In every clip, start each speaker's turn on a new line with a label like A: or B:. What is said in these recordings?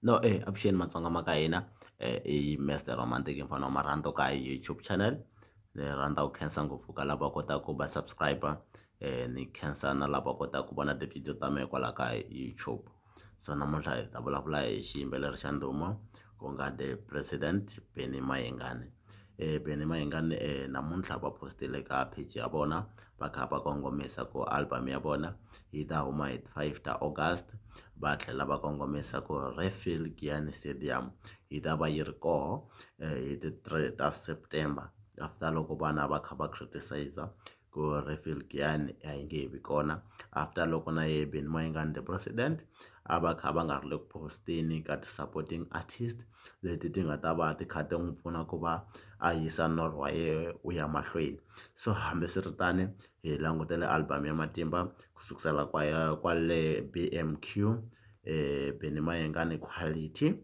A: No e avuxeni matsonga ma ka hina i Mister Romantic mfana wa marhandu ka YouTube channel ni rhandza ku khensa ngopfu ka lava kotaku va subscribe ni khensa na lava kotaku ku vona tivhidiyo ta mehe kwala ka YouTube so namuntlha hi ta vulavula hi xiyimbeleri xa ndhuma ku nga The President Benny Mayengani Benny Mayengani namuntlha va post-ile ka page ya vona va kha va kongomisa ku album ya vona yi ta huma hi 5 ta August va tlhela va kongomisa ku Redfield Giyani Stadium yi ta va yi ri koho eh, hi ti 3 ta September after loko vana va kha va criticize ku Redfield Giyani a yi nge he vi kona after loko na ye Benny Mayengani the president a va kha va nga ri le ku posteni ka ti-supporting artist leti ti nga ta va ti kha ti n'wi pfuna ku va a yisa norho wa yena wu ya mahlweni so hambiswiritano hi langutele album ya matimba ku sukusela kwaya kwale B_M_Q Benny Mayengani quality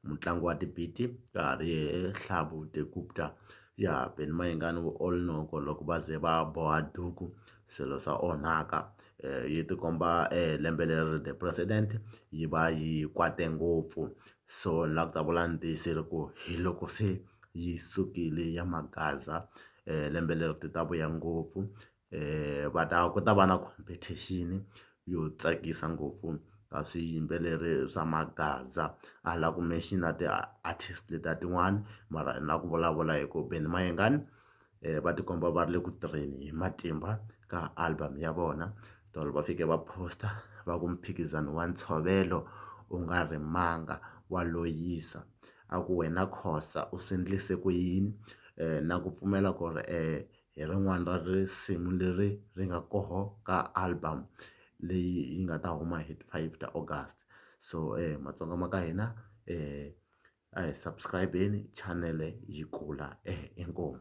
A: mutlangi wa ti-beat ka ha ri yena Hlavu the Gupta ya Benny Mayengani u all know ku loko va ze va boha duku swilo swa onhaka yi tikomba lembe leri the president yi va yi kwate ngopfu so ni la ku ta vula ni tiyisile ku hi loko se yi sukile ya magaza lembe leri ti ta vuya ngopfu va ta ku ta va na competition yo tsakisa ngopfu ka swiyimbeleri swa magaza a ni la ku mention-a ti-artist letiya tin'wani mara ni la ku vulavula hi ku Benny Mayengani va tikomba va ri le ku tirheni hi matimba ka album ya vona tolo va fike va post-a va ku mphikizano wa ntshovelo u nga rimanga wa loyisa a ku wena Khoza u swi endlise ku yini na ku pfumela ku ri hi rin'wana ra risimu leri ri nga koho ka album leyi yi nga ta huma hi ti-five ta August so Matsonga ma ka hina . a hi subscribe-eni chanele yi kula inkomu.